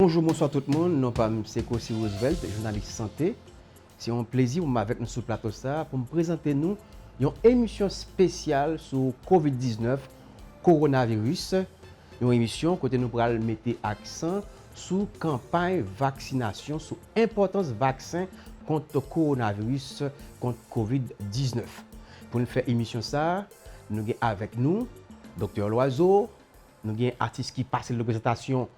Bonjou bonswa tout moun, non pa m se Cossy Roosevelt, jounalis sante. Se yon plezi pou m avèk nou sou plato sa pou m prezante nou yon emisyon spesyal sou Covid 19, Coronavirus, yon emisyon kote nou pral mete aksan sou kanpay vaksinasyon, sou enpòtans vaksen kont Coronavirus, kont Covid 19. Pou n fè emisyon sa, nou gen avèk nou Doktè Loiseau, nou gen atis ki pase l nan prezantasyon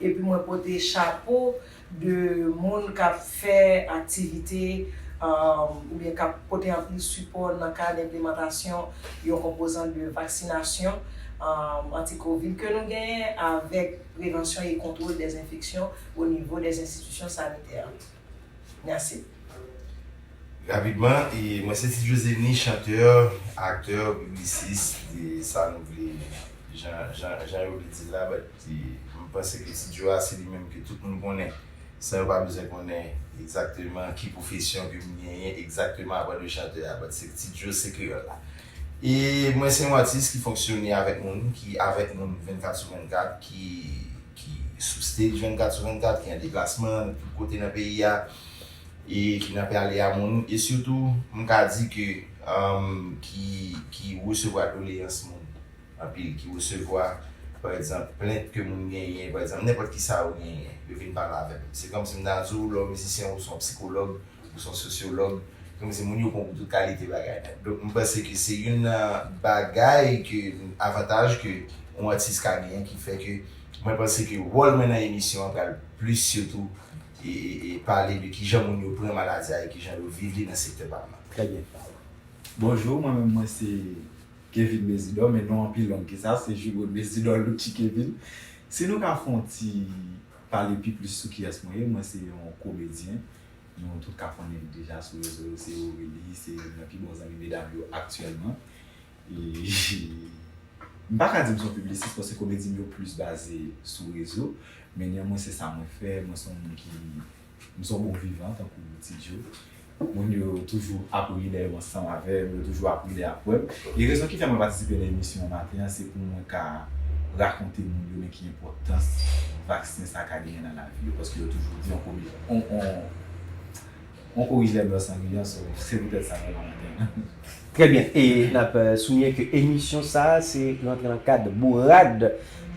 Epi mwen pote chapo de moun k ap fè aktivite oubyen k ap pote anpil sipò nan kad enplemantasyon yon konpozant de vaksinasyon anti-covid ke nou genyen avèk prevansyon e kontwol dè enfeksyon o nivo dè enstitisyon sanitè. Mèsi. Rapidman, mwen se Ti José ni chanteur, acteur, publiciste, sa nou vle, jan yo vle di l la but. M panse ke Ti Djo a se li menm ke tout moun konnen san yo pa bezwen konnen egzakteman ki pwofesyon ke m genyen egzakteman apan de chantè a but se Ti Djo se kreyòl la. E mwen se yon atis ki fonksyone avèk moun, ki avèk moun 24 sou 24, ki ki sou stage 24 sou 24, ki an deplasman nan tout kote nan peyi a e ki nan prale a moun e sitou m ka di ke ki ki resevwa doleyans moun. anpil ki resevwa pa egzanp plent ke moun genyen pa egzanp nenpòt kisa yo genyen yo vin pale avè m se kòmsi m ta di w lè w mizisyen ou se yon psikològ ou se yon sosyològ se kòmsi moun yo pran w pou tout kalite bagay nèt donk m panse ke se youn nan bagay ke avantaj ke yon atis ka genyen ki fè ke mwen panse ke wòl mwen nan emisyon an pral plis sitou e pale de kijan moun yo pran maladi a e kijan yo viv li nan sektè pa m nan. Trè byen. Bonjou mwen menm mwen se Kevin Mezidor men non an pi long ke sa se Jugo Mezidor Lucci Kevin Si nou ka fè yon ti pale pi plis sou kiyès mwen ye mwen se yon komedyen nou tout ka konnen li deja sou rezo yo se Aurelie se youn nan pi bon zanmi medam yo aktyèlman e m pa ka di m se yon piblisis paske komedi m yo plis baze sou rezo men nyanmwen se sa mwen fè mwen se yon moun ki M son bon vivan tankou ti Djo. Moun yo toujou ap ri lè yo ansanm avè m, yo toujou ap ri lè y ap wè m. E rezon ki fè mwen patisipe nan emisyon an maten an se pou mwen ka rakonte moun yo men ki enpòtans vaksen sa ka genyen nan lavi yo paske yo toujou di on komi on on on korije lè m lòs an riyan so se poutèt sa m la maten an. Trè byen, e nap souliyen ke emisyon sa a se rantre nan kad bourad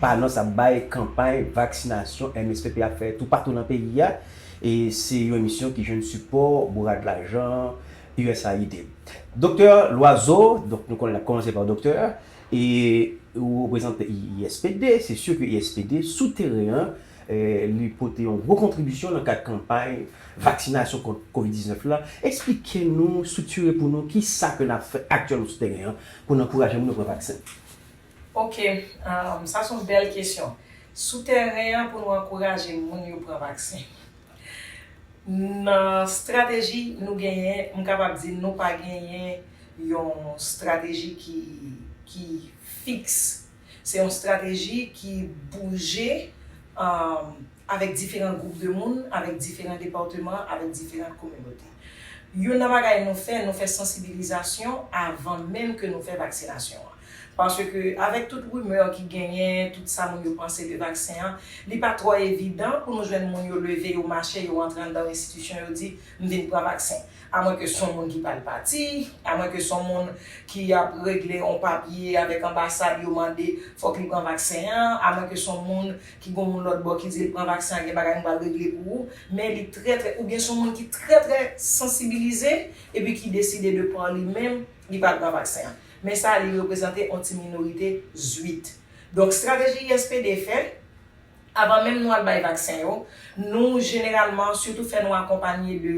pa anons ap bay kanpay vaksinasyon MSPP ap fè toupatou nan peyi a, e se yon emisyon ki jwenn sipò bourad lajan usaid. Doktè Loiseau, donk nou konnen nap kòmanse pa doktè, e ou reprezante ISPD, se si ke ISPD sou teren an li pote yon gwo kontribisyon nan kad kanpay vaksinasyon kont Covid 19 la, eksplike nou striktire pou nou ki sa ke nap fè aktyèlman sou tèren an pou n ankouraje moun yo pran vaksen. Ok, sa son bèl kesyon. Sou tèren an pou nou ankouraje moun yo pran vaksen. Nan strateji nou genyen, m kapab di nou pa genyen yon strateji ki fiks Se yon strateji ki bouje avèk diferan gwoup de moun, avèk diferan depatman, avèk diferan kominote. Youn nan bagay nou fè, nou fè sansibilizasyon avan menm ke nou fè vaksinasyon an. Paske avèk tout rimè ki genyen, tout sa moun yo panse de vaksen an, li pa twò evidan pou nou jwenn moun yo leve, yo mache, yo rantre anndan enstitisyon, yo di, m vin pran vaksen. A mwen ke son moun ki pral pati, a mwen ke son moun ki ap regle on papye avèk anbasad yo mande fòk li pran vaksen an, a mwen ke son moun ki gon moun lòt bò ki di l pran vaksen an gen bagay m pral regle pou ou, men li trè trè oubyen son moun ki trè trè sansibilize epi ki deside de par li menm li pral pran vaksen an. Men sa li reprezante on ti minorite zwit. Donk strateji YSPD fè, Avan menm nou al bay vaksen yo, nou jeneralman sitou fè nou akonpanye de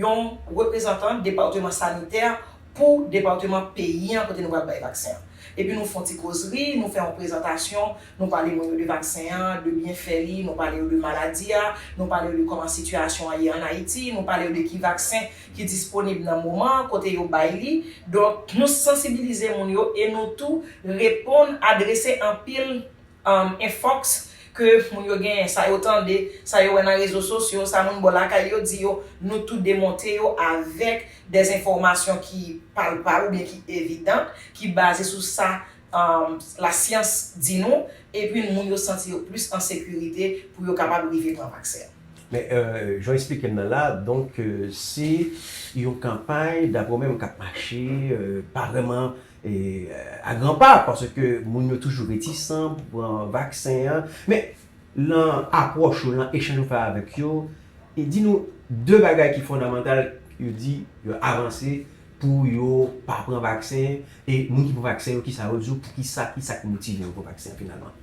yon reprezantan depateman sanitè pou depateman peyi an kote nou pral bay vaksen an. Epi nou fon ti kozri, nou fè yon prezantasyon, nou pale moun yo de vaksen an, de byenfè li, nou pale yo de maladi a, nou pale yo de kòman sitiyasyon an ye an Ayiti, nou pale yo de ki vaksen ki disponib nan moman an, kote yo bay li. Donk, nou sansibilize moun yo e nou tou reponn, adrese anpil. Infox ke moun yo genyen, sa yo tande, sa yo wè nan rezo sosyo, sa moun bò lakay yo di yo, nou tou demonte yo avèk des enfòmasyon ki palpab oubyen ki evidant, ki baze sou sa la syans di nou, epi moun yo santi yo plis an sekirite pou yo kapab rive pran vaksen an. Men, jan w esplike m nan la, donk se yon kanpay, dapre w menm, k ap mache, pa vrèman a gran pa paske moun yo toujou retisan pou pran vaksen an. Men, lan apwòch ou, lan echanj ou fè avèk yo, di nou 2 bagay ki fondamantal yo di yo avanse pou yo pa pran vaksen e moun ki pran vaksen yo kisa yo di w, poukisa, kisa ki motive yo pran vaksen an finalman?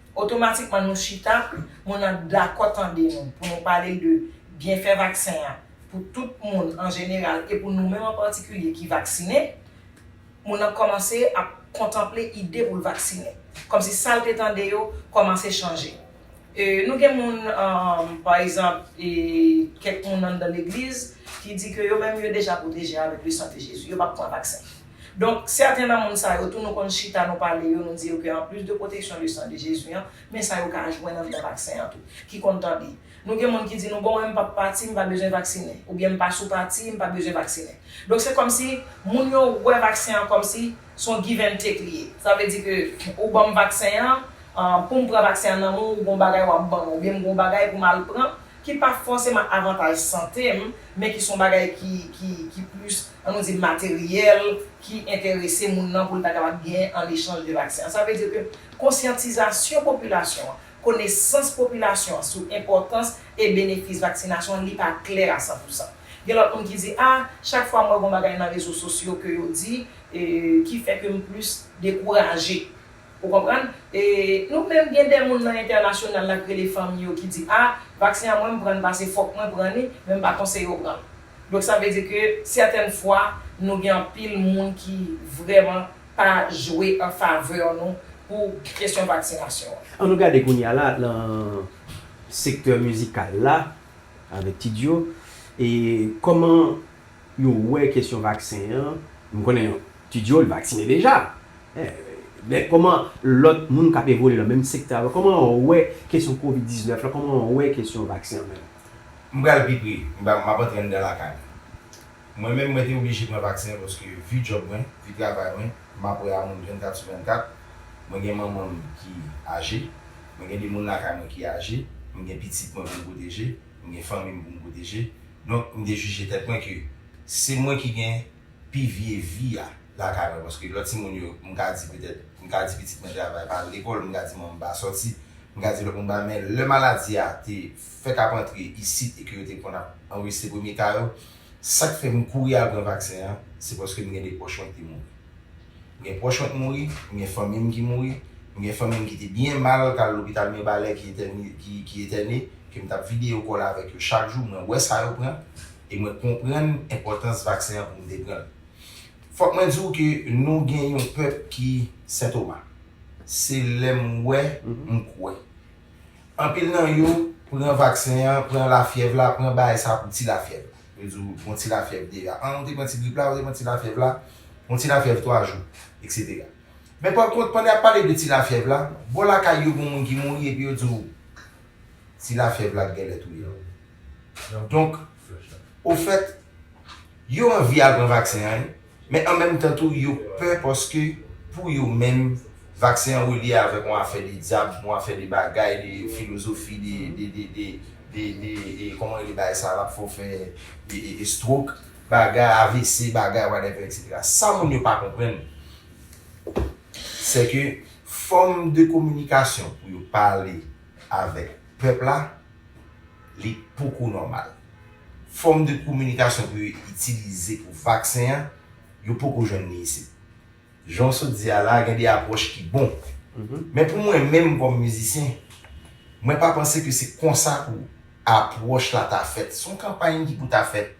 Otomatikman nou chita, moun nan dakò tande nou pou nou pale l de byenfè vaksen an pou tout moun an jeneral e pou nou menm an patikilye ki vaksinen, moun nan kòmanse ap kontanple ide pou l vaksinen. Kòmsi sa l te tande yo kòmanse chanje. E nou gen moun, pa egzanp, e kèk moun anndan legliz ki di ke yo menm yo deja pwoteje avèk le san de Jezi, yo p ap pran vaksen. Donk, sèten nan moun sa yo tou nou konn chita nou pale yo, nou di yo ke anplis de pwoteksyon le san de Jezi an, men sa yo ka jwenn anndan vaksen an tou, ki konn tande. Nou gen moun ki di nou bon mwen m pap pati, m pa bezwen vaksinen, oubyen m pa sou pati, m pa bezwen vaksinen. Donk se kòmsi moun yo wè vaksen an kòmsi s on give and take li ye. Sa vle di ke ou ban m vaksen an, pou m pran vaksen an nan men w, ou gen yon bagay w ap ban mwen, oubyen m gen yon bagay pou m al pran, ki pa fòseman avantaj sante m, men ki son bagay ki ki ki plis an nou di materyèl ki enterese moun nan pou l ta kapab genyen an echanj de vaksen an. Sa vle di ke konsyantizasyon popilasyon an, konesans popilasyon an sou enpòtans e benefis vaksinasyon an li pa klè a san pou san. Gen lòt moun ki di a, chak fwa m wè gon bagay nan rezo sosyo ke yo di e ki fè ke m plis dekouraje. Ou konprann? E nou menm gen de moun nan entènasyonal la k rele fanmi yo ki di, a, vaksen an mwen m pran n pase fòk mwen pran li, men m pa konseye w pran l. Donk sa vle di ke sètèn fwa nou gen anpil moun ki vrèman pa jwe an favè nou pou kesyon vaksinasyon an. An nou gade kounye a la nan sektè mizikal la avèk T-Djo e kòman Yo wè kesyon vaksen an, m konnen Tudio li vaksine deja, men kòman lòt moun k ap evolye nan menm sektè avè w, kòman yo wè kesyon covid 19 lan, kòman yo wè kesyon vaksen an menm? M pral pi pre, m ap antre anndan lakay mwen. Mwen menm mwen te oblije pran vaksen an paske vi djòb mwen, vi travay mwen, m ap wè a moun 24 sou 24, mwen gen manman m ki aje, mwen gen de moun lakay mwen ki aje, m gen pitit mwen pou m pwoteje, m gen fanmi m pou m pwoteje, Donk m te jije tèt mwen ke se mwen ki gen pi vye vi a lakay mwen paske lòt timoun yo m ka di petèt m ka di pitit mwen te ava pa al lekòl, m ka di manman m pa sòti, m ka di lòt moun pa men lè maladi a te fèk ap antre isit e ke yo te konn ap anrejistre premye ka yo, sa k fè m kouri al pran vaksen an se paske m gen de pwòch mwen ki te mouri. M gen pwòch mwen k mouri, m gen fanmi m ki mouri, m gen fanmi m ki te byen mal k al lopital Mirbalè ki etène, ke m t ap vide yo kòl avèk yo chak jou, mwen wè sa yo pran e mwen konprann enpòtans vaksen an pou m te pran l. Fòk mwen di w ke nou gen yon pèp ki sentoma. Se lè m wè m kwè. Anpil nan yo pran vaksen an, pran lafyèv la, pran bay sa pou ti lafyèv la. Yo di w gon ti lafyèv deja. An ou te pran ti grip la, ou te pran ti lafyèv la, yon ti lafyèv 3 jou, eksetera. Men pa kont, pandan y ap pale de ti lafyèv la, bò lakay yo gon moun ki mouri epi yo di w ti lafyèv la t genlè touye l. Donk, ofèt, yo anvi al pran vaksen an wi. Men an menm tan tou yo pè paske pou yo menm vaksen an relye avèk yon afè de dyab, yon afè de bagay, de filozofi, de kòman rele bagay sa a lap fè w fè estwok, bagay avc, bagay whatever etc. Sa moun yo pa konprann sèke fòm de kominikasyon pou yo pale avèk pèp la, Li poko nòmal. Fòm de kominikasyon pou yo itilize pou vaksen an, yo poko jwenn li isit. Jan w sot di a la a, gen de apwòch ki bon. Men pou mwen menm kòm mizisyen, mwen pa panse ke se konsa pou apwòch la ta fèt. Se yon kanpay ki pou ta fèt.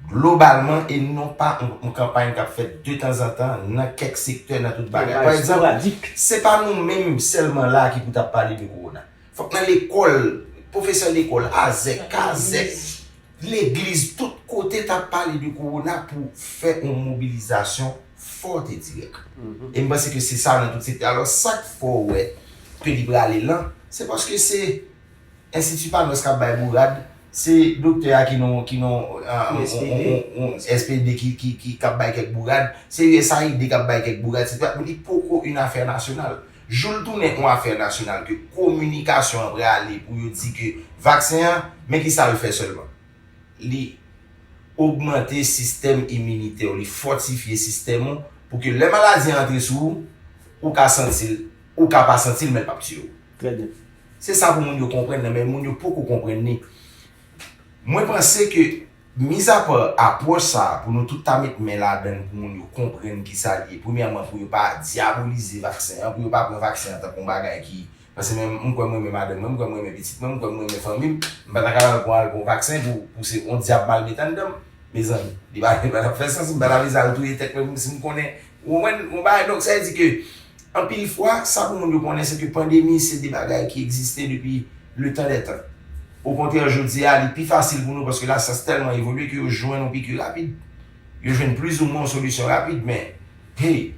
Globalman, e non pa yon kanpay k ap fèt de tanzantan nan kèk sektè nan tout bagay. Pa egzanp, se pa nou menm sèlman la a ki pou t ap pale de kowona. Fòk nan lekòl, pwofesè lekòl, azèk, kazèk, legliz, tout kote ta pale de kowona pou fè yon mobilizasyon fòt e dirèk. E m panse ke se sa nan tout sektè. Alò, sa k fè w wè ke li prale lan, se paske se. Institut Panos kap bay bourad, se doktè a ki nan yon SPD ki kap bay kèk bourad, se usaid kap bay kèk bourad, se ta li poko yon afè nasyonal. Jou l tounen yon afè nasyonal ke kominikasyon an prale pou yo di ke vaksen an, men ki sa l fè sèlman. Li ogmante sistèm iminitè w, li fòtifye sistèm ou pou ke lè maladi an antre sou ou, ou ka santi l, ou ka pa santi l men l pap tiye w. Trè byen. Se sa pou moun yo konprann nan men moun yo poko konprann ni. Mwen panse ke mizapa apwòch sa a pou nou tout ta met men ladan l pou moun yo konprann ki sa li ye. Premyèman pou yo pa dyabolize vaksen an, pou yo pa pran vaksen an tankou yon bagay ki, paske men m kwè m renmen madanm mwen, m kwè m renmen pitit mwen, m kwè m renmen fanmi m, m pa ta ka al pou al pran vaksen pou pou se yon dyab m al met anndan m. Mezanmi, li pa ta fè sans, m pa ta vle sa al touye tèt mwen pou m si m konnen Ou konprann yon bagay? Donk, sa vle di ke anpil fwa, sa pou moun yo konnen se ke pandemi se de bagay ki egziste depi letan dè tan. Okontrè, jodi a, li pi fasil pou nou paske lasyans tèlman evolye ke yo jwenn yon piki rapid. Yo jwenn plizoumwen yon solisyon rapid. Men, hey!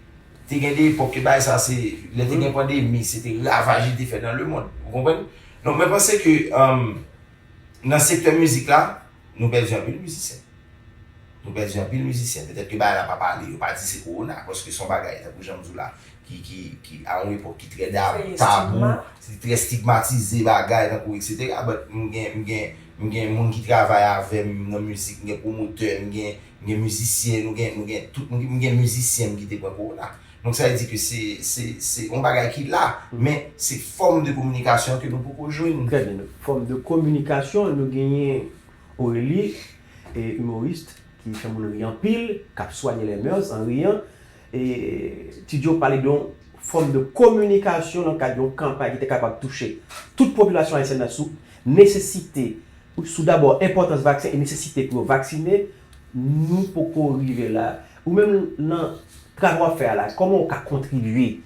Te gen de epòk ke bagay sa a se, lè te gen pandemi, se te ravaj li te fè nan lemond. Ou konprann? Donk, mwen panse ke nan sektè mizik la, Nou pèdi anpil mizisyen. Nou pèdi anpil mizisyen. Petèt ke bagay la pa pale. Yo pa di se kowona. Paske se yon bagay, tankou jan m di w la, ki, ki, ki a yon epòk ki trè da, tabou, ki trè stigmatize bagay, tankou eksetera. But m gen, m gen, m gen moun ki travay avè m nan mizik. M gen pwomotè, m gen, m gen mizisyen. Nou gen, nou gen tout. M gen mizisyen m ki te pran kowona. Donk sa vle di ke se, se, se yon bagay ki la, men se fòm de kominikasyon ke nou poko jwenn. Trè byen. Fòm de kominikasyon, nou genyen Aurélie, e humoriste, ki fè moun ri anpil, k ap soigner les mœurs en riant. E Ti Djo pale de yon fòm de kominikasyon nan kad yon kanpay ki te kapab touche tout popilasyon ayisyèn nan sou nesesite, sou dabò enpòtans vaksen e nesesite pou yo vaksinen, Nou poko rive la. Ou menm nan travay wap fè a la kòman ou ka kontribye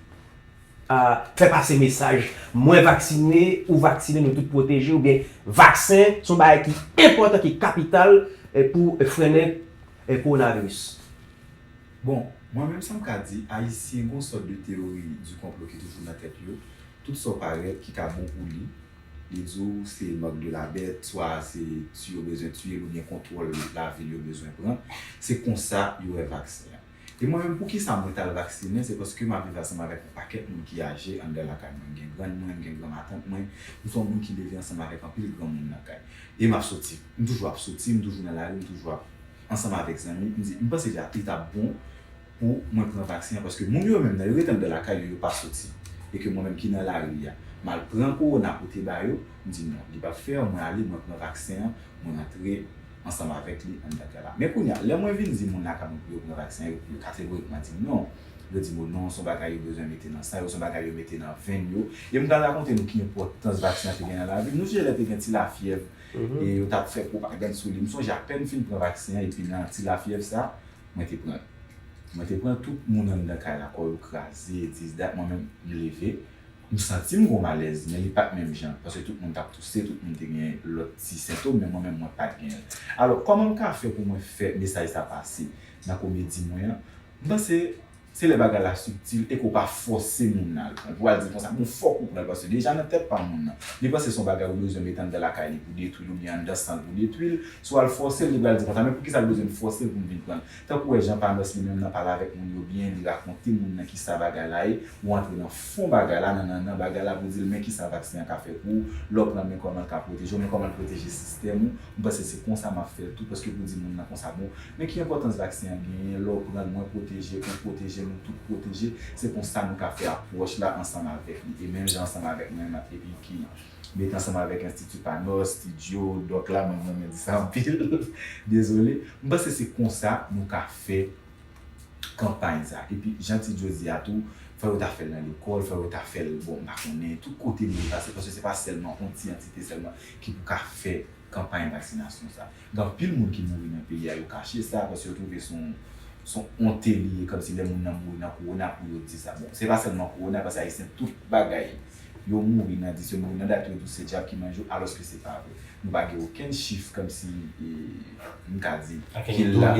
a fè pase mesaj mwen vaksine ou vaksine nou tout pwoteje oubyen vaksen son bagay ki enpòtan ki kapital pou frennen kowonaviris. Bon, mwen menm sam ka di, ayisyen gon sòt de teyori di konplo ki toujou nan tèt yo, tout sa w parèt ki ka bon pou li, Li di w se mank de la bèt, swa se ti yo bezwen tiye l oubyen kontwòl lavil yo bezwen pran. Se konsa yo wè vaksen an. E mwen menm poukisa mwen t al vaksinen, se paske m ap viv ansanm avèk yon pakèt moun ki aje anndan lakay mwen. M gen grann mwen, m gen granmatant mwen. M se yon moun ki leve ansanm avèk anpil granmoun nan kay. E m ap soti. M toujou ap soti, m toujou nan lari, m toujou ap ansanm avèk zanmi. M di, m panse li ta bon. pou mwen pran vaksen an paske moun yo menm nan yo rete andan lakay yo yo pa soti e ke mwen menm ki nan lari a mal pran kowona pote ba yo m di non li pap fer mwen ale mwen pran vaksen an mwen antre ansanm avek li andan kay la men kounya lè mwen vin di moun lakay mwen pou yo pran vaksen an yo kategorikman dim non yo dim o non son bagay yo bezwen mete nan san yo son bagay yo mete nan venn yo e m pral rakonte nou ki enpotans vaksen an te gen nan lavim nou sonje lè te gen ti lafyèv e yo tap fè pwopagann sou li m sonje apèn m fin pran vaksen an epi nan ti lafyèv sa Mwen te pran l. Mwen te pran l tout moun anndan kay la kò yo kraze, dizda, mwen menm m leve, m santi m g'on malèz men li pat menm jan paske tout moun tap touse, tout moun te gen lòt ti sentom men mwen menm mwen pat genyen l. Alò kòman m ka fè pou mwen fè mesaj sa pase nan komedi mwen an? M panse. Se lè bagay la subtil e ke w pa fòse moun nan al pran l pou w al di l konsa, bon fòk ou pran l paske deja nan tèt pa moun nan li panse se yon bagay ou bezwen mete anndan lakay li pou detwi l oubyen anndan san l pou detwi l. Si w al fòse l, li pral di konsa, men poukisa l bezwen m fòse l pou m vin pran l? Tank ou wè jan Panos li menm nan pale avèk moun yo byen, li rakonte moun nan kisa bagay la ye, ou antre nan fon bagay la, nan nannan bagay la pou w di l men kisa vaksen an ka fè pou ou lè w pran l, men kòman l ka pwoteje w, men kòman l pwoteje sistèm ou, M panse se konsa map fèl tou paske pou di moun nan konsa bon men ki enpòtans vaksen an genyen lè w pranl mwen pwoteje ou pwoteje nou tout pwoteje se konsa nou ka fè apwòch la ansanm avèk li e menm jan ansanm avèk mwen nan epi ki met ansanm avèk enstiti panos studio dòk la mwen renmen di sa anpil dezole m panse se konsa nou ka fè kanpay sa epi jan ti djo di a tou fò yo ta fèl nan lekòl fò yo ta fèl bon m pa konnen tout kote li dwe pase paske se pa sèlman on ti antite sèlman ki pou ka fè kanpay vaksinasyon sa. Gen anpil moun ki mouri nan peyi a yo kache sa paske yo twouve se yon se yon onte li ye kòmsi lè moun nan mouri nan kowona pou yo di sa. Bon se pa sèlman kowona paske ayisyen tout bagay yo mouri nan di se mouri nan dat yo tou se dyab ki manje yo alòske se pa vre. Nou pa gen okenn chif kòmsi m ka di ki la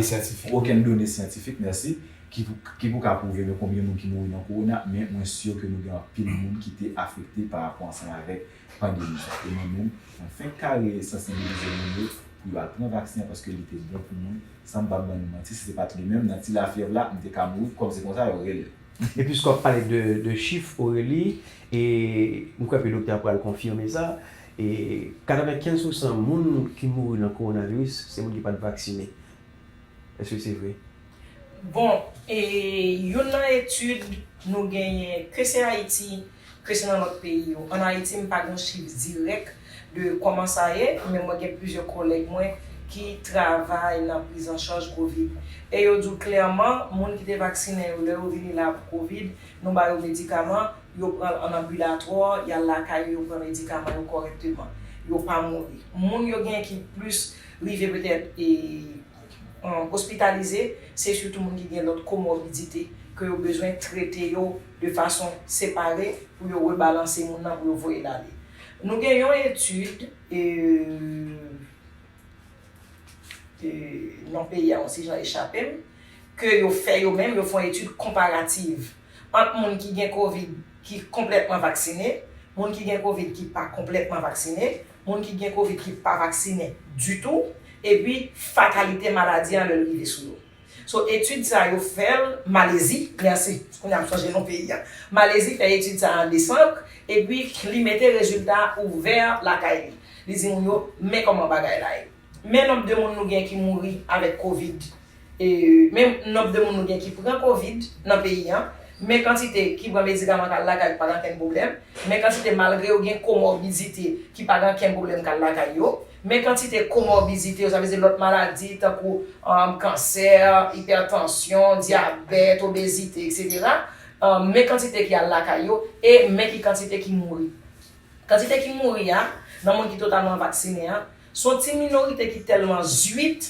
okenn done syantifik mèsi ki pou ka pwouve men konbyen moun ki mouri nan kowona men mwen sur ke nou gen anpil moun ki te afekte parapò ansanm avèk Pandemi sa e mwen menm mwen fenk kare sansibilize moun yo pou yo al pran vaksen an paske li te bon pou moun san m pa ban nou manti si se pat li menm nan ti lafyèv la m te ka mouri kòm se konsa yo rele l. Episk wap pale de chif Aurélie e m kwè ke doktè a pral konfime sa e 95 pou san moun ki mouri nan kowonaviris se moun ki pat vaksine eske se vre? Bon e youn nan etid nou genyen ke se Ayiti. ke se nan lòt peyi yo. An Ayiti, m pa gen yon chif dirèk de kòman sa ye, men mwen gen plizyè kòlèg mwen ki travay nan prizanchaj covid. E yo di w klèman, moun ki te vaksinen yo, lè yo vini la pou covid, nou ba yo medikaman, yo pran l an anbilatwò, y al lakay yo, yo pran medikaman yo kòrèkteman. Yo pa mouri. Moun yo gen ki plis rive petèt e ospitalize, se sitou moun ki gen lòt komorbidite, ke yo bezwen trete yo. de fason separe pou yo rebalanse moun nan pou yo voye l ale. Nou gen yon etid e e non peyi a yon ti jan echape m ke yo fè yo menm, yo fè yon etid konparativ ant moun ki gen kovid ki konplètman vaksinen, moun ki gen kovid ki pa konplètman vaksinen, moun ki gen kovid ki pa vaksinen ditou epi fatalite maladi an lè l rive sou yo. So etid sa yo fèl Malezi merci kounya m sonje non peyi a Malezi fè etid sa an desanb epi li mete rezilta ouvè lakay li li di moun yo men kòman bagay la ye men nonb de moun nou gen ki mouri avèk kovid men nonb de moun nou gen ki pran kovid nan peyi an men kantite ki pran medikaman kal lakay ki pa gen ankenn pwoblèm men kantite malgre yo gen komòbidite ki pa gen ankenn pwoblèm kal lakay yo. Men kantite komorbizite yo, sa vle di lòt maladi tankou kansè, ipètansyon, dyabèt, obezite, eksetera, men kantite ki al lakay yo e men ki kantite ki mouri. Kantite ki mouri a, nan moun ki totalman vaksinen an, se yon ti minorite ki tèlman zuit,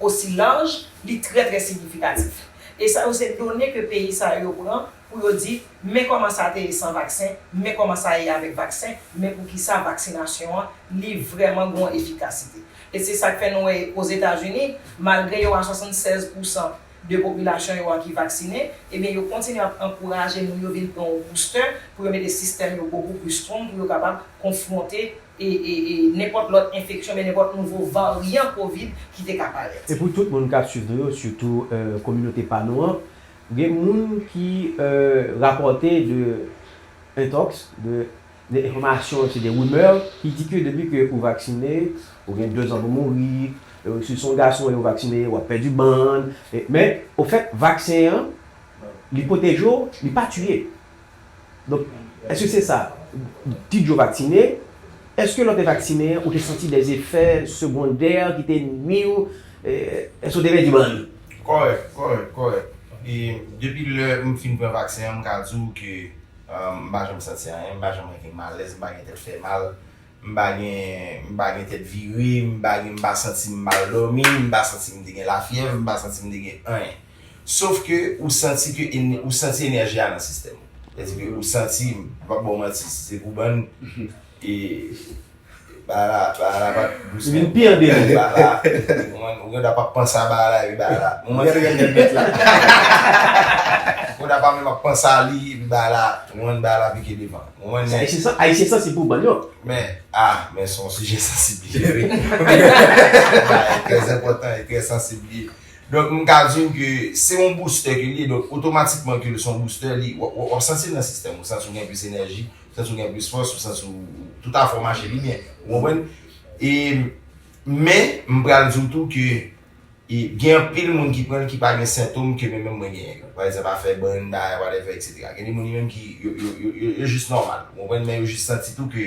osi laj, li trè trè signifikatif. E sa yo se done ke peyi sa yo pran pou yo di, men kòman sa te ye san vaksen, men kòman sa ye avèk vaksen, men poukisa vaksinasyon an li vrèman gon efikasite. E se sa k fè nou wè Ozetazini, malgre yo a 76 pousan de popilasyon yo a ki vaksine, ebyen yo kontinye ap ankouraje moun yo vin pran yon boustè pou yo mete sistèm yo bokou plis strong pou yo kapab konfwonte e nenpòt lòt enfeksyon oubyen nenpòt nouvo varyan covid ki te ka parèt. E pou tout moun kap swiv nou yo sitou kominote pa nou an gen moun ki rapòte de intox de de enfòmasyon se de rumeur ki di ke depi ke ou vaksine ou gen 2 zan pou mouri si son gason e ou vaksine wap pèdi bann men ofèt vaksen an li pwoteje w li pa tiye. Donk, èske se sa? Ti Djo vaksinen, èske lè w te vaksinen an, ou te santi dè efè segondè ki te nui w? Èske w te pèdi bann? Kòrèk, kòrèk, kòrèk. E depi lè m fin pran vaksen an, m ka di w ke m pa janm santi anyen, m pa janm gen malèz, m pa gen tèt fè mal, M pa gen m pa gen tèt vire, m pa gen m pa santi m mal dòmi, m pa santi m te gen lafyèv, m pa santi m te gen anyen. Sof ke ou santi ke ou santi enèji a nan sistèm ou. Sa di ke ou santi, m pa p ba w manti, si se pou bann e bagay la bagay la pa t dous menm. Vin pi an deyo. Bagay la, ou konprann, ou gen dwa pa p panse a bagay la epi bagay la. Ou gade gade nèg mèt la. Ou gen dwa pa menm ap panse a li epi bagay la, ou konprann, bagay la pike devan. Mwen Se ayisyen san, ayisyen sansib pou bann yo. Men, ah, men son sijè sansib li ye wi. Bagay trè enpòtan e trè sansib li ye. Donk m ka di w ke se yon boustè ke li ye, donk otomatikman ke l se yon boustè, li, w ap santi l nan sistèm ou, santi w gen plis enèji, ou santi w gen plis fòs, ou santi w, tout afè w mache pi byen. Ou konprann? E, men, m pral di w tou ke. E gen anpil moun ki pran l ki pa gen sentom ke men menm mwen genyen yo. Pa egzanp afè bann bagay whatever etc. Gen de moun yo menm ki yo yo yo yo yo jis nòmal. Ou konprann men yo jis santi tou ke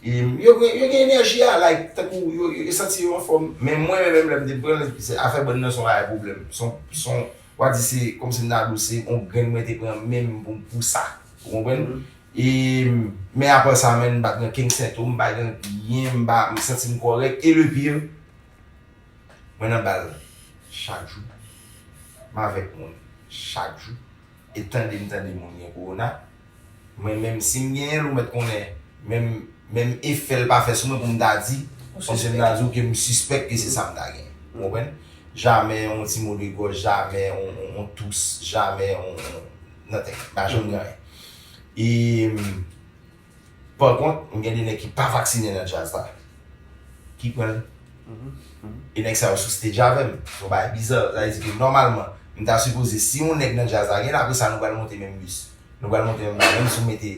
e yo gen yo gen enèji a like tankou yo yo santi yo anfòm. Men mwen men menm lè m te pran l se afè bann nan se yon bagay pwoblèm. Se yon se yon wa di se kòmsi m ta di w se yon grenn mwen te pran menm pou m pou sa. Ou konprann? E men aprè sa menn m pa t gen okenn sentom m pa gen anyen m pa m santi m kòrèk e le pire Mwen nan bal chak jou. M avèk moun chak jou. E tande m tande moun gen kowona. Mwen menm si m genyen l ou mèt konnen menm menm efè l pa fè sou mwen pou m ta di. Kòmsi m ta di w ke m sispèk ke se sa m ta genyen. Ou konprann? Jamè yon ti mo de gòj, jamè yon tous, jamè yon nothin. M pa janm gen anyen. E. Par kont m gen 2 nèg ki pa vaksinen nan djaz la ki pran l e nèg sa yo sou stage avè m yon bagay biza sa vle di ke nòmalman m ta sipoze si yon nèg nan djaz la gen l apresa nou pral monte menm bis nou pral monte menm bagay menm si w mete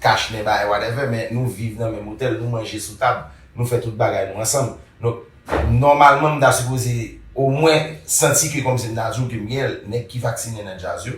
kach nen bagay whatever men nou viv nan menm otèl nou manje sou tab nou fè tout bagay nou ansanm donk nòmalman m ta sipoze omwen santi ke kòmsi m ta di w ke m gen l nèg ki vaksinen nan djaz yo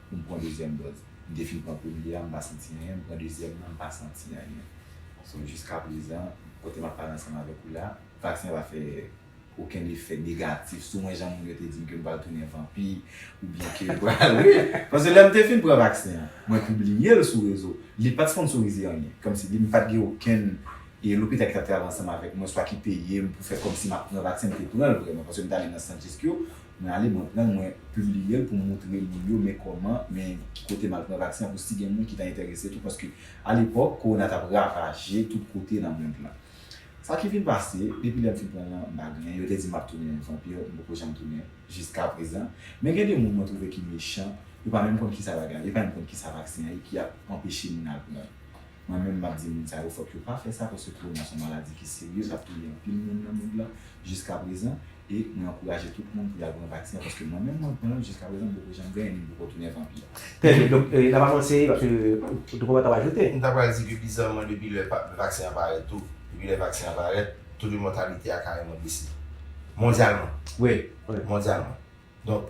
pou m pran dezyèm dòz. M te fin pran premye a m pa santi anyen, m pran dezyèm nan m pa santi anyen. So jiskaprezan kote m ap pale ansanm avèk ou la, vaksen an pa fè okenn efè negatif sou mwen jan moun yo te di m ke m pral tounen vanpi oubyen ke m pral wi. Paske lè m te fin pran vaksen an, mwen pibliye l sou rezo, li pa t sponsorize anyen, kòmsi li m pa t gen okenn lopital ki t ap travay ansanm avèk mwen swa ki peye m pou fè kòmsi m ap pran vaksen, m te pran l vrèman paske m t ale nan sant Jeskyo Mwen ale mwen pranl mwen publiyel pou moutre moun yo men kòman men ki kote mal pran vaksen pou si gen moun ki ta entèrese tou paske alepòk kowona tap ravaje tout kote nan mond lan sa ki vin pase depi lèm fin pranl lan mpa gen yo te dim map tounen vanpir mpoko janm tounen jiskaprezan men gen de moun mwen twouve ki mechan yo pa menm konn kisa bagay yo pa menm konn kisa vaksen an ye ki ap anpeche moun al pranl. Mwen menm map di moun sa yo fòk yo pa fè sa paske kowona son maladi ki serye kap touye anpil moun nan mond lan jiska prezan e mwen ankouraje tout moun pou yal pran vaksen an paske mwen menm mwen pranl jiska prezan m poko janm genyen ni m poko tounen vanpi. Trè byen, donk nan pa manti paske ou te konprann sa wap ajoute. M ta pral di ke bizanman depi lè vaksen an parèt tou, depi lè vaksen an parèt, to de mòtalite a kareman bese. Mondyalman. Wi, mondyalman. Donk.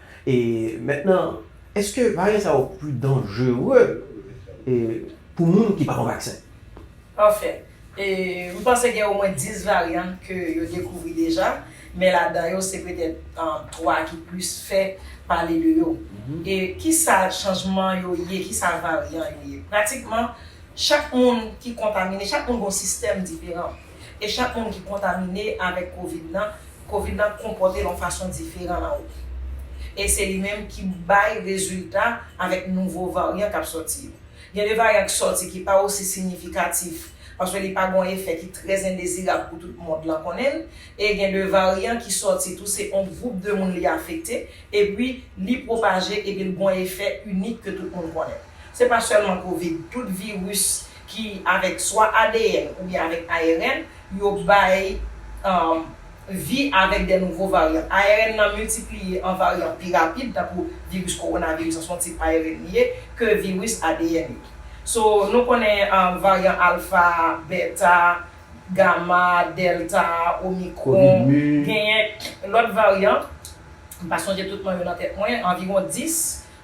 E mentnan eske varyen sa yo pu danjere pu moun ki pa pran vaksen? Anfen, m panse gen omwen 10 varyan ke yo dekouvri deja, men ladan yo se petèt 3 ki plis fè pale de yo. E kisa chanjman yo ye, kisa varyan yo ye? Pratikman, chak moun ki kontamine, chak moun gen yon sistèm diferan. E chak moun ki kontamine avèk covid lan, covid lan konpòte l yon fason diferan nan ou. E se li menm ki bay rezilta avèk nouvo varyan k ap sòti yo. Gen de varyan k sòti ki pa osi sinyifikatif, paske li pa gen yon efè ki trè endezirab pou tout mond lan konnen l, e gen de varyan ki sòti tou se yon gwoup de moun li afekte, epi li pwopaje epi l gen yon efè inik ke tout moun konnen. Se pa sèlman covid, tout viris ki avèk swa adn oubyen avèk ARN, yo bay vi avèk de nouvo varyan. ARN nan miltipliye an varyan pi rapid, tankou viris kowonaviris an se yon tip ARN li ye, ke viris adn yo. So, nou konnen varyan alfa, beta, gama, delta, omikron, genyen lòt varyan, m pa sonje tout non yo nan tèt mwen, anviwon 10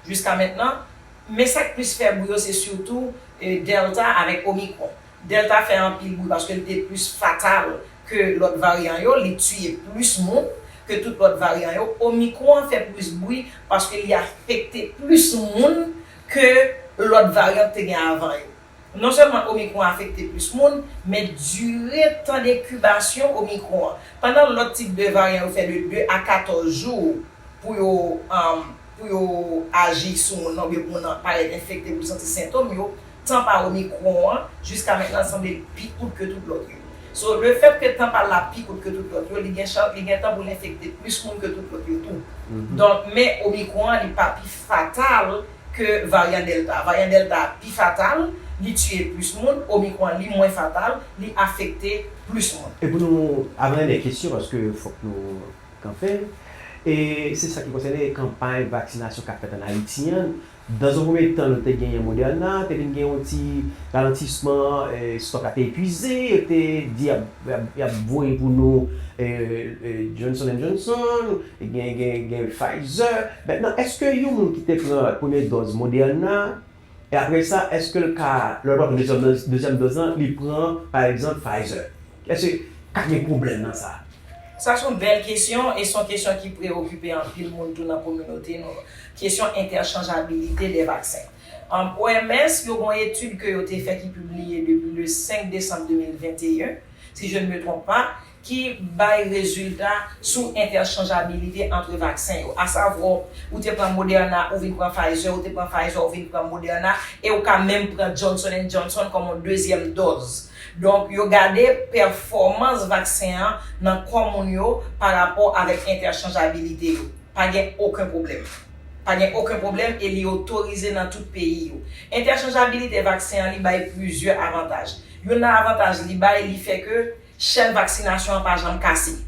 jiska mentnan, men sa k plis fè bri yo se sitou. Delta avèk Omicron. Delta fè anpil bri paske li te plis fatal ke lòt varyan yo, li tiye plis moun ke tout lòt varyan yo. Omicron an fè plis bri paske li afekte plis moun ke lòt varyan ki te gen avan yo. Non sèlman Omicron afekte plis moun, men dire tan dekibasyon Omicron an. Pandan lòt tip de varyan yo fè de 2 a 14 jou pou yo pou yo aji sou moun nan oubyen pou moun nan parèt enfekte pou l santi sentom yo, tan pa omicron an jiska mentnan sanble l pi kout ke tout lòt yo. So le fèt ke tan pa l la pi kout ke tout lòt yo, li gen chans, li gen tan pou l enfekte plis moun ke tout lòt yo tou. Donk, men omicron an li pa pi fatal ke varyan delta. Varyan delta a pi fatal, li tiye plis moun, omicron an li mwen fatal, li afekte plis moun. E pou nou, avan enè kesyon paske fòk nou. kanpe, e se sa ki konsène kanpay vaksinasyon k ap fèt ann Ayiti an. Dans un premier temps, nou te genyen Moderna, te vin gen yon ti ralantisman, stòk la te epuize, yo te di y ap voye pou nou Johnson and Johnson, gen Pfizer. Mètnan, èske yon moun ki te pran premye dòz Moderna, E apre sa, èske l ka, lè l pral pran dezyèm doz lan, li pran, pa egzanp, Pfizer? Èske ka gen pwoblèm nan sa? Sa s on bèl kesyon e s on kesyon ki preyokipe anpil moun tou nan kominote nou an. Kesyon entèchanjabilite dè vaksen. OMS, yo gen yon etid ke yo te fè ki pibliye depi le 5 desanm 2021, si je ne me trompe pas, ki bay rezilta sou entèchanjabilite antre vaksen yo. Asavwò, ou te pran Moderna, ou vin pran Pfizer, ou te pran Pfizer, ou vin pran Moderna, e ou ka menm pran Johnson and Johnson kòm yon dezyèm dòz. Donk, yo gade pèfòmans vaksen an nan kò moun yo parapò avèk entèchanjabilite yo. Pa gen oken pwoblèm. Pa gen oken pwoblèm e li otorize nan tout peyi yo. Entèchanjabilite vaksen an li bay plizyè avantaj. Youn nan avantaj li bay, li fè ke. Chèn vaksinasyon an pa janm kase.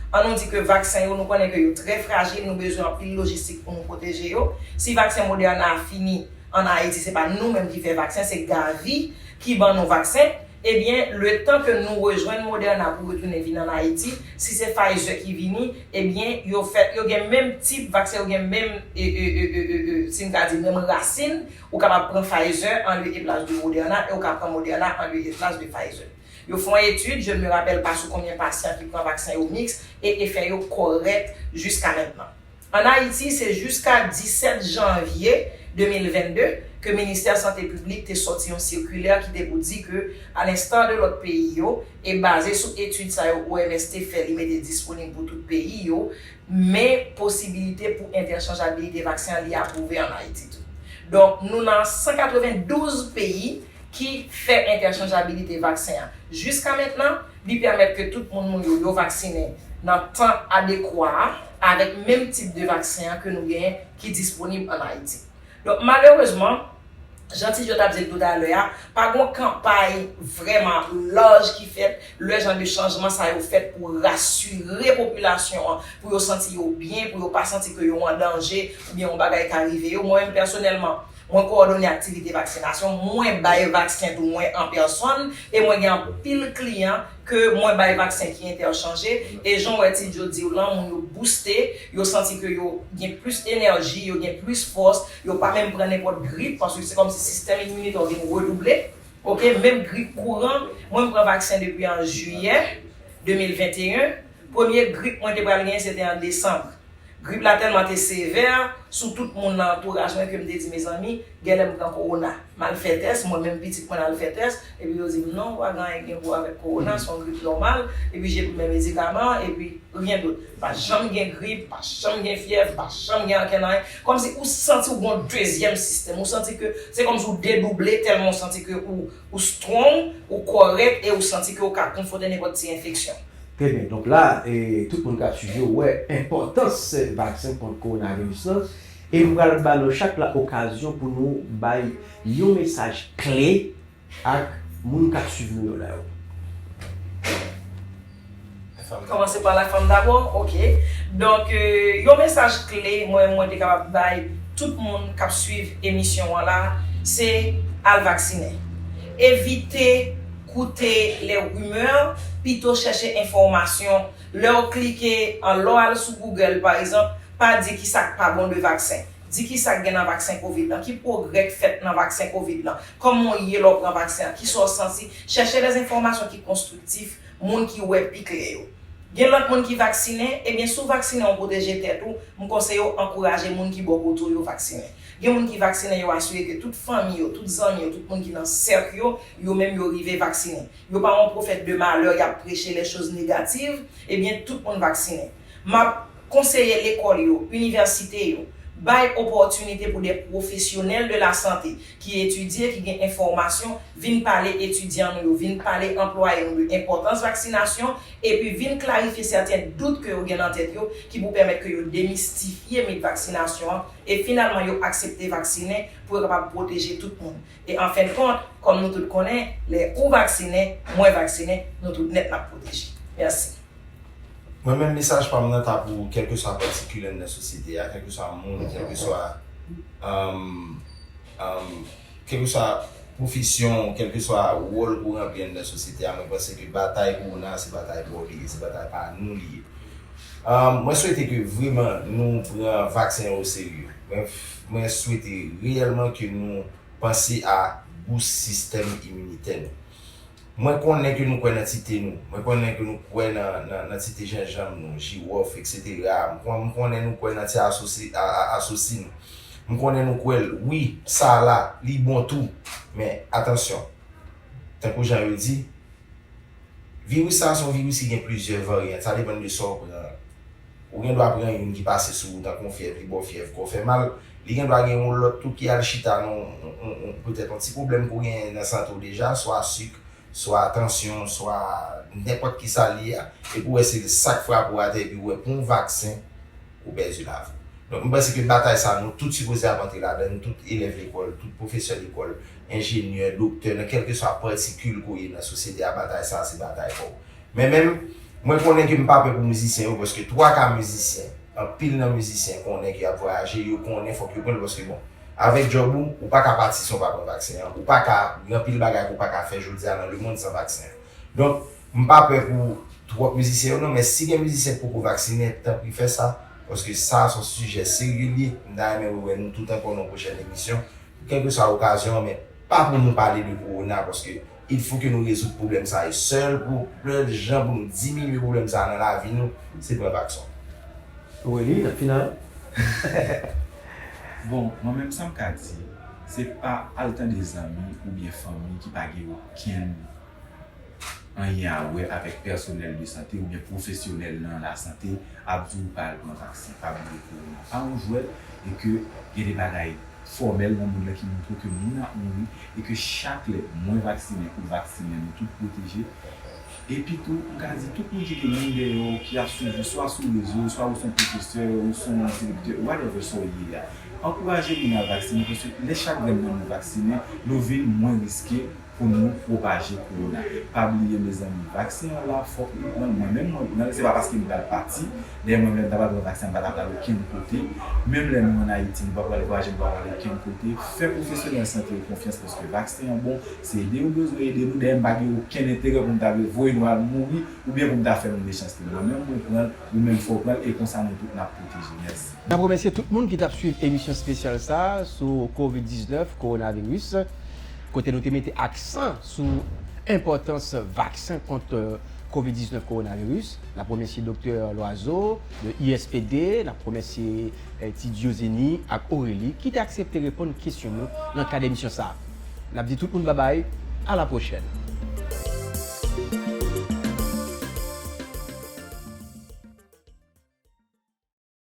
An nou di ke vaksen yo, nou konnen ke yo trè frajil, nou bezwen anpil lojistik pou nou pwoteje yo. Si vaksen Moderna a fini an Ayiti, se pa nou menm ki fè vaksen, se Gavi ki ban nou vaksen, ebyen letan ke nou rejwenn Moderna pou retounen vin an Ayiti, si se Pfizer ki vini, ebyen yo fèt, yo gen menm tip vaksen, yo gen menm e, e, e, e, e, e, si m ka di menm rasin, ou kapab pran Pfizer an lye e plas de Moderna e ou ka pran Moderna an lye e plas de Pfizer. Yo fè yon etid, je ne me rappelle pas sou konbyen pasyan ki pran vaksen yo miks e efè yo kòrèk jiska mentnan. An Ayiti, se jiska 17 janvye 2022 ke ministè sante piblik te sòti yon sikilè ki te pou di ke a l'instar de lòt peyi yo e baze sou etid sa yo OMS te fè li mete disponib pou tout peyi yo men posibilite pou entèchanjabilite vaksen an li apwouve an Ayiti tou. Donk nou nan 192 peyi. ki fè entèchanjabilite vaksen an. Jiska mentnan, li pèmèt ke tout moun moun yo yo vaksinen nan tan adekwa a avèk menm tip de vaksen an ke nou genyen ki disponib an Ayiti. Donk malerezman, jan Ti Jo t ap di l toutalè a, pa gon kanpay vrèman laj ki fèt lè jan de chanjman sa yo fèt pou rasire popilasyon an, pou yo santi yo byen, pou yo pa santi ke yo an danje oubyen yon bagay ka rive yo. Mwen menm pèsonèlman, Mwen kowòdone aktivite vaksinasyon, mwen bay vaksen tou mwen an pèsòn e mwen gen anpil kliyan ke mwen bay vaksen ki entèchanje e jan w wè ti Djo di w lan moun yo bouste, yo santi ke yo gen plis enèji, yo gen plis fòs, yo pa menm pran nenpòt grip paske se kòmsi sistèm iminitè w vin redouble ok, menm grip kouran, mwen m pran vaksen depi an jiyè 2021, premye grip mwen te pral genyen se te an desanm. Grip la tèlman te sevè sou tout moun nan antouraj mwen ke m te di mezanmi, genlè m pran kowona. M al fè tès, mwen menm pitit mwen al fè tès, epi yo di m non, pa gen anyen ki gen pou wè avèk kowona, se yon grip nòmal, epi j epi men medikaman an, epi ryen dout. M pa janm gen grip, m pa janm gen fyèv, m pa janm gen ankenn anyen. Kòmsi ou santi ou gen yon dezyèm sistèm, ou santi ke se kòmsi ou dedouble tèlman ou santi ke ou. Ou strong, ou kòrèk e ou santi ke ou ka konfote nenpòt ti enfeksyon. Trè byen, donk la tout moun ka swiv yo wè enpòtans vaksen kont kowonaviris lan e m pral ba nou chak la okazyon pou nou bay yon mesaj kle ak moun k ap swiv nou yo la yo. Kòmanse pa lafanm dabò, ok. Donk, yon mesaj kle mwen mwen te kapab bay tout moun k ap suiv emisyon an la, se al vaksinen. Evite koute lè rimè, pito chèche enfòmasyon. Lè w klike, lè w al sou Google pa egzanp, pa di ki sa k pa bon de vaksen. Di ki sa k gen nan vaksen covid lan, ki pwogrè k fèt nan vaksen covid lan, kòman w ye lè w pran vaksen an, ki sa w santi. Chèche dèzenfòmasyon ki konstriktif Moun ki wè pi klè yo. Gen lòt moun ki vaksinen, ebyen si w vaksinen ou pwoteje tèt ou, m konseye w ankouraje moun ki bò kote w yo vaksinen. Gen moun ki vaksinen yo asire ke tout fanmi yo, tout zanmi yo, tout moun ki nan sèk yo, yo menm yo rive vaksinen. Yo pa yon pwofèt de malè yap preche lè choz negativ, ebyen tout moun vaksinen. M ap konseye lekòl yo, inivèsite yo, bay opòtinite pou de pwofesyonèl de lasante ki etidye, ki gen enfòmasyon, vin pale etidyan nou yo, vin pale anplwaye nou de enpòtans vaksinasyon, epi vin klarifye sèten dout ke yo gen nan tèt yo, ki pou pèmèt ke yo demistifye mit vaksinasyon an, e finalman yo aksepte vaksinen, pou yo kapab pwoteje tout moun. E an fen kont, kòm nou tout konnen, lè ou vaksinen, mwen vaksinen, nou tout nèt nap pwoteje. Mèsi. Mwen menm mesaj pam nan ta pou kèlkeswa pati kilèn nan sosyete a, kèlkeswa moun, kèlkeswa kèlkeswa pwofesyon ou, kèlkeswa wòl ou ranpli anndan sosyete a, mwen panse ke batay kowona a se batay paw li ye, se batay pa nou li ye. Mwen swete ke vreman nou pran vaksen an oserye. Mwen swete reyèlman ke nou panse a gou sistèm iminitè nou. Mwen konnen ke nou kwè nan ti te nou. Mwen konnen ke nou kwè nan ti te jenjanm nou, jiwòf, eksetera. M konnen nou kwè nan ti asosi nou. M konnen nou kwè l. Wi, sa a la, li bon tou. Men, atansyon. Tankou jan yo di, Viris sa a se yon viris ki gen plizyè varyant. Sa depann de sa w pran. Ou gen dwa pran youn ki pase sou ou tankou yon fyèv li ba w fyèv kò fè mal. Li gen dwa gen yon lòt tou ki al chita nan yon petèt yon ti pwoblèm ke w genyen nan sante w deja, swa sik, swa tansyon, swa nenpòt ki sa l ye a, epi w wè se sa k frape w atè epi w wè pou yon vaksen ou pèdi lavi w. Donk, m panse ke batay sa a nou tout sipoze ap antre ladan l, tout elèv lekòl, tout pwofesè lekòl, enjenyè, doktè, nan kèlkeswa patikil ke w ye nan sosyete a, batay sa a se batay pa w. Men menm, mwen konnen ke m pa pè pou mizisyen yo paske twa ka mizisyen, anpil nan mizisyen konnen ke y ap vwayaje, yo konnen fòk yo pran l paske bon, avèk djòb ou, ou pa ka pati san w pa pran vaksen an, ou pa ka, gen anpil bagay ke w pa ka fè jodi a nan lemonn san vaksen an. Donk, m pa pè pou twòp mizisyen yo non, men si gen mizisyen ki poko vaksinen, tanpri fè sa, paske sa a se yon sijè serye l ye, m ta renmen wè nou tout ankò nan yon pwochèn emisyon, pou kèlkeswa okazyon an, men pa pou nou pale de kowona paske Il fo ke nou rezoud pwoblèm sa yo sèl pou pèl jan pou nou diminye pwoblèm sa nan lavi nou se pran vakson. Wi li nan final. Bon mwen menm sam ka di se pa al tande zanmi ou byen fanmi ki pa gen okenn anyen a wè avèk pèsonèl de sante ou byen pwofesyonèl nan la sante ap di w pa al pran vaksen pa bliye korona pa yon jwèt e ke gen de bagay fòmèl nan mond lan ki montre ke moun ap mouri e ke chak lè mwen vaksinen ou vaksinen nou tout pwoteje. Epitou, m ka di tout moun ki gen moun dèyè w ki ap swiv ou swa sou rezo, swa ou se yon pwofesè, ou se yon direktè, whatever sa w ye a, ankouraje moun al vaksinen paske lè chak grenn nan nou vaksinen, nou vin mwen riske pou nou pwopaje kowona. Pa bliye mezanmi vaksen an la fòk nou pranl mwen menm mwen pranl se pa paske m pral pati dèyè mwen menm m ta pral pran vaksen an m pa ta pral okenn kote menm lè nou an ayiti nou pa pral vwaje nou pa pral okenn kote fè pwofesyonèl sante yo konfyans paske vaksen an bon se ede yo bezwen ede nou dèyè m pa gen okenn enterè pou m ta vle voye nou al mouri oubyen pou m ta fè nou mechanste mwen menm mwen pranl ou menm fè w pranl e konsa nou tout nap pwoteje mèsi. N ap remèsye tout moun ki t ap swiv emisyon spesyal sa a sou covid 19, Coronavirus. kote nou te mete aksan sou enpòtans vaksen kont Covid 19 Kowonaviris. N ap remèsye Doktè Loiseau de ISPD, n ap remèsye Ti Diozeni ak Aurélie ki te aksepte reponn kesyon nou nan kad emisyon sa. N ap di tout moun babay, a la pwochèn!